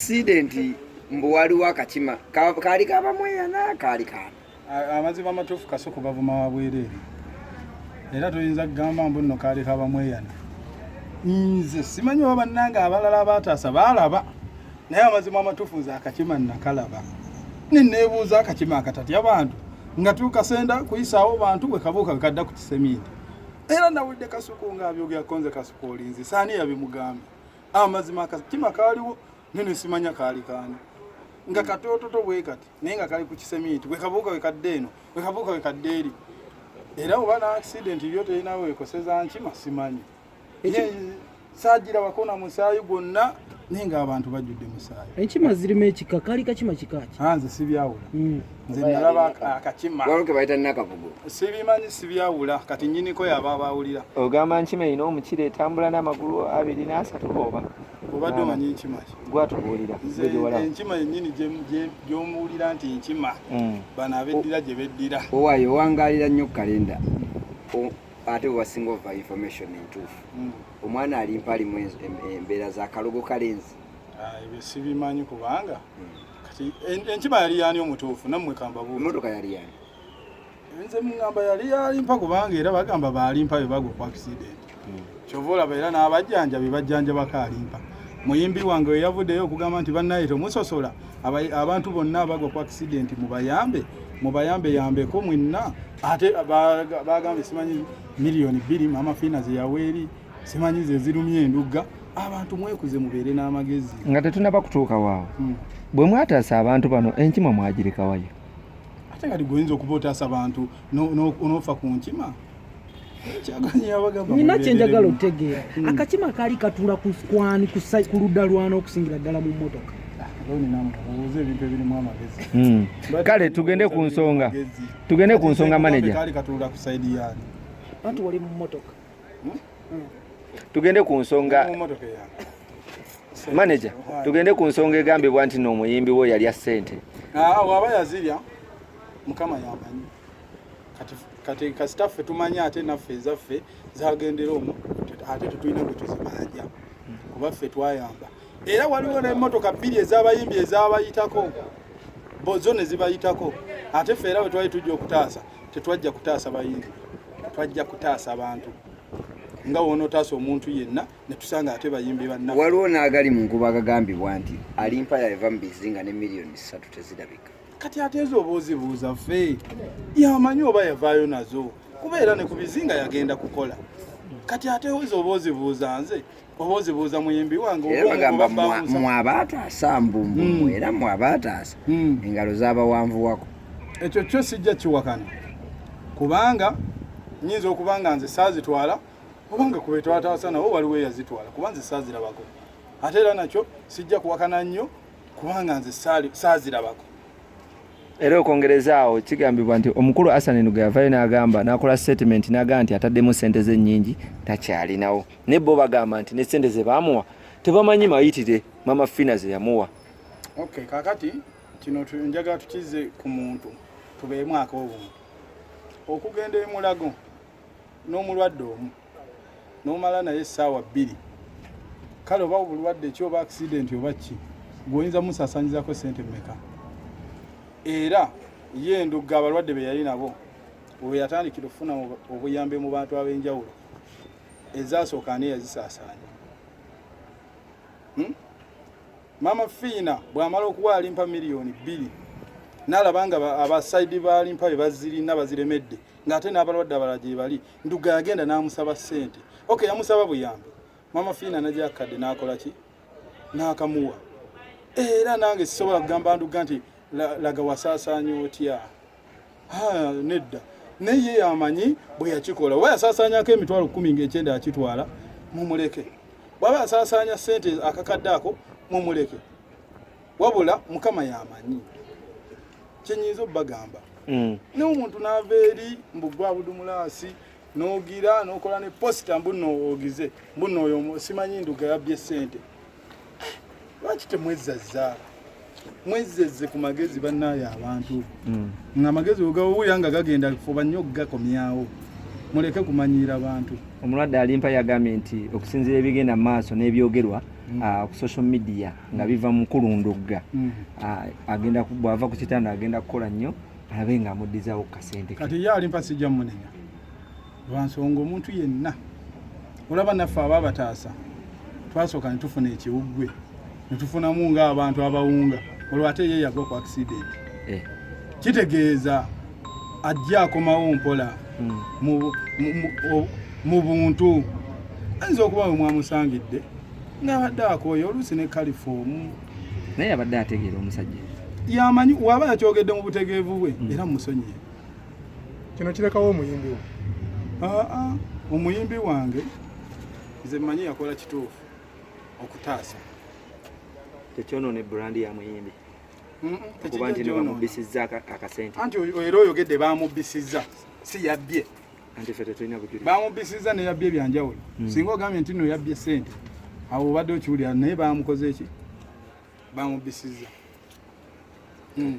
sidenti mbu waliwo akakima kaali kabamweyana kaali kaana amazima amatuufu kasoko bavuma wabwereere era toyinza kugamba mbu nno kaali kabamweyana nze simanyi oba bannange abalala abaataasa baalaba naye amazima amatuufu nze akakima nakalaba neneebuuza akakima akatatya bantu nga tukasenda kuyisaawo bantu bwe kabuuka bwekadda ku kiseminti era nawulidde kasuku ng'abyogerako nze kasuku olinzi saani yabimugamba amazima ah, akatima kaaliwo naye nesimanya kaali kaani nga hmm. katoototo bwe kati naye nga kali ku kisemiiti wekabuuka wekadde eno wekabuuka wekadde eri era oba na accident yo terina wekoseza nkima simanyi saagirabako na musaayi gwonna naye ng'abantu bajjudde musaayi enkima zirimu ekika kaali kakima kikaaki ah, nze sibyawula hmm. nze nalaba akakima waliwo ke bayita nakavugo sibimanyi sibyawula kati nyiniko yaba abawulira ogamba nkima erina omukira etambula n'amagulu abiri n'asatu oba obadde omanyi enkima gwatubuulira enkima yennyini gyomuwulira nti enkima mm. bano abeddira gye beddira owaayo owangaalira nnyo kalenda ate wewasinga ova information entuufu mm. omwana alimpa alimu embeera za kalogo kalenzi ah, ebyo sibimanyi kubanga mm. kati enkima yali yani omutuufu nammwe kambabu emotoka yali yani nze mungamba yali yalimpa kubanga era bagamba balimpa bebaga ku accident hmm. kyova olaba era n'abajjanjabi bajjanjabako alimpa muyimbi wange weyavuddeyo okugamba nti bannaye temusosola abantu bonna abagwa ku accident mubayambe mubayambe yambeko mwenna ate bagambye simanyi miliyoni bbiri maama fiina zeyaweeri simanyi ze zirumya endugga abantu mwekuze mubeere n'amagezi nga tetunaba kutuuka waawo hmm. bwe mwataasa abantu bano enkima mwagirekawayo ate kati gweoyinza okuba otaasa abantu n'ofa ku nkima nina kyenjagala okutegeera hmm. akakima kaali katuula kwani ku ludda lwana okusingira ddala mu mmotoka hmm. kale tugende ku nsonga tugende ku nsonga maneja kali katula ku side yani watu wali mu motoka tugende ku nsonga manager tugende ku nsonga egambibwa nti n'omuyimbi wo yalya ssente ah, waba yazirya mukama yamanyi kati kasita ffe tumanyi ate naffe ezaffe zagendera omu ate tetulina gwe tuzibanja kuba ffe twayamba era waliwo n'emmotoka bbiri ez'abayimbi ezabayitako bozo ne zibayitako ate ffe era bwe twali tujja okutaasa Tetwajja kutaasa bayimbi, twajja kutaasa abantu nga wonotaasa omuntu yenna netusanga ate bayimbi banna. Waliwo n'agali mu nkuba agagambibwa nti alimpa yava mu bizinga ne miliyoni ssatu tezirabika. Kati ate ezo oba ozibuuza ffe yamanyi oba yavaayo nazo kuba era ne ku bizinga yagenda kukola kati ate ozo oba ozibuuza nze obozibuuza muyimbi wange era bagamba mwabaataasa mbu hmm. era mwabaataasa hmm. engalo zabawanvuwako ekyo kyo sijja kiwakana kubanga nyinza okuba nga nze saazitwala oba nga kube twataasa nawo waliwo eyazitwala kuba nze saazirabako ate era nakyo sijja kuwakana nnyo kubanga nze saazirabako era okwongereza awo kigambibwa nti omukulu asanenuga yavayo n'agamba n'akola statement n'agamba nti ataddemu ssente ze nnyingi takyalinawo ne bo bagamba nti ne sente ze baamuwa tebamanyi mayitire mama fina ze yamuwa okay kakati kino njaga tukize ku muntu tubeemu ak'obuntu okugenda emulago n'omulwadde omu n'omala naye essaawa bbiri kale oba obulwadde ki oba akisidenti oba ki gweoyinza musasanyizako sente mumeka era ye endugga abalwadde be yali nabo weyatandikira okufuna obuyambi mu bantu ab'enjawulo ezasooka ani yazisaasaanya hmm? maama fiina bw'amala okuwa alimpa miliyoni bbiri nalaba nga abasaidi balimpa be bazirina baziremedde ng'ate n'abalwadde abala gye bali nduga yagenda n'amusaba ssente oke yamusaba buyambi maama fiina nagyakadde n'akola ki n'akamuwa era nange sisobola kugamba nduga nti laga wasaasaanya otya nedda naye ye yamanyi bwe yakikola oba yasaasaanyako emitwalo kkumi ng'ekyenda yakitwala mumuleke bwaba yasaasaanya ssente akakadde ako mumuleke wabula mukama yamanyi kyenyinza obubagamba mm. naye omuntu naava eri mbugwa budumulaasi nogira nokola ne posita mbuno ogize mbuno oyo simanyi nduga yabbye ssente lwaki temwezazza mwezzezze ku magezi bannaayo abantu hmm. nga amagezi wegawuya nga gagenda fuba nnyo okugakomyawo muleke kumanyiira bantu omulwadde alimpa yagambye nti okusinzira ebigenda mu maaso n'ebyogerwa hmm. ah, ku social media nga biva mu kulundugga hmm. ah, agenda bwava ku kitanda agenda kukola nnyo alabe nga amuddizawo ku kasente kati ye alimpa sijja munenya lwa nsonga omuntu yenna olaba naffe aba bataasa twasooka ne tufuna ekiwuggwe ne tufunamu ng'abantu abawunga olwo ate ye yagwa ku akisidenti eh. kitegeeza ajja akomawo mpola hmm. mu buntu ayinza okuba we mwamusangidde ng'abadde akooye oluusi ne kalifoomu naye abadde ategeera omusajja yamanyi waba yakyogedde mu butegeevu bwe hmm. era mumusonyiye kino kirekawo omuyimbi wo aa omuyimbi wange nze mmanyi yakola kituufu okutaasa tekyonoona ebrandi ya muyimbi kuba nti nebamubbisizza akasente anti era oyogedde bamubbisizza si yabbye anti fe tetulina bujuli bamubbisizza neyabbye ebyanjawulo hmm. singa ogambye nti no yabbye sente awo obadde okiwulira naye bamukoze eki bamubbisizza hmm.